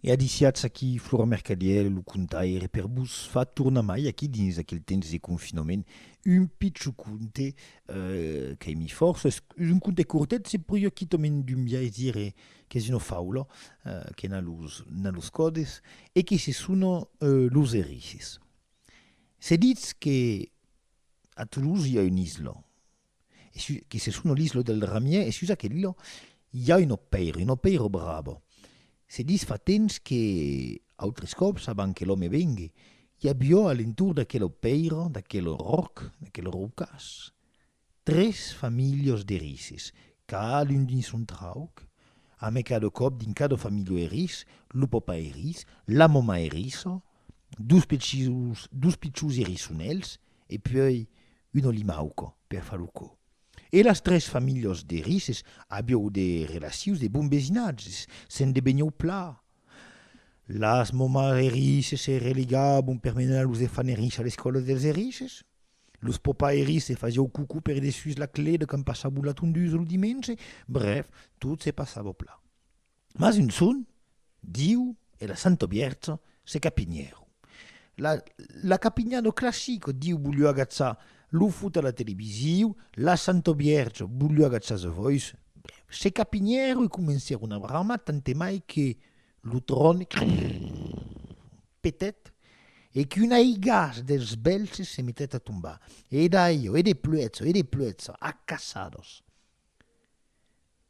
E adiciatz aquí Flora Mercadièr e lo contaire per vos far tornar mai aquí dins aquel temps de confinament un picho conte qu'ai mis fòrça, es un conte cortet, se podiá quitament dumbiais dire qu'es una faula que n'a los n'a los còdes e que se sona Los Erices. Se ditz que a Toulouse i a un'isla e sus, que se sono l'islo del Ramier, e sus aquello i a un opèiro, un opèiro bravo. Se dis fa temps que, autres còps, abans que l'òme vengui, i avió a l'entorn d'aquel opèiro, d'aquel ròc, d'aquel rocàs, tres familhos d'erisses, cadun dins son trauc, amé cada còp dins cada familho erís, lo pòpa erís, la mòma erissa, dos pichus, dos pichus erisonèls e puèi un olimauco per far lo cò. E las tres familhas d'erisses aviou de relacions de bon vesinatge, se'n debenhèu pla. Las momas erisses se religabon per menar los efants erisses a l'escòla dels erisses, los papas erisses fasiou cocò per dessús la clèda quand passabon la tondusa lo dimenge, brèf, tot se passava pla. Mas un son, Diu e la Santo Bierta se capinhèron. La la capinha no classico, Diu voliu agatzar lo fut a la televisiu, la Santo Bierta voliu agatzar The Voice, se capinhèron e comencèron a bramar tant e mai que lo tròn petèt e qu'un aigàs dels bèlhs se metèt a tombar. E daiò, e de pluèja, e de pluèja, a cassados.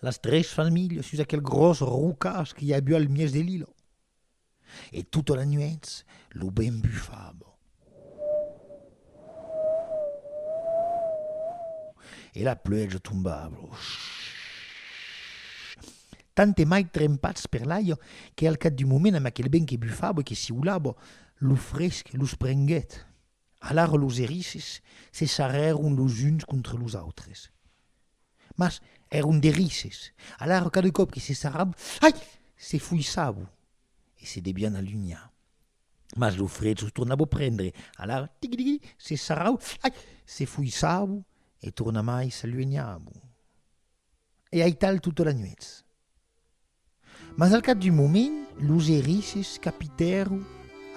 Las tres familhas sus aquel gròs rocàs qu'i aviá al mièg de l'ila. E tota la nuèch lo vent bufava. E la pluèja tombava. Tant e mai trempats per l'aiga que al cap d'un moment, amb aquel vent que bufava e que siulava, lo fresc los prenguèt. Alara los erisses se sarrèron los uns contra los autres. Mas èron d'erisses, alara cada còp que se sarravan, ai! se fuissavan e se devián alunhar. Mas lo fred los tornava prendre, alara tigui-digui, se sarravan, ai! se fuissavan e tornamai s'aluenhavan. E aital tota la nuèch. Mas al cap d'un moment, los erisses capitèron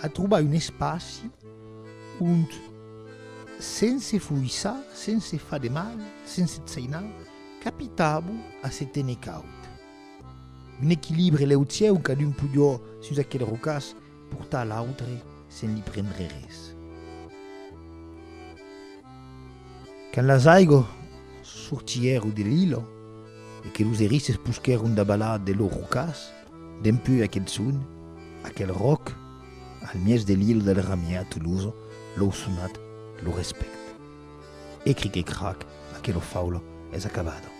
a trobar un espaci ont, sense foissar, sense far de mal, sense tsainar, capitàvon a se téner caud. Un equilibre lèu cieu, cadun pujò sus aquel rocàs Portar l'autre sen li prendre res. Quand las aigos sortièron de l'ilo e que los erisses posquèron dabalar de lor rocas, dempeu aquel son, aquel ròc, al mièg de l'ilo del Ramièr Toloso, lou sonat, lo respèct. Ecric e crac, aquelo faula es acabada.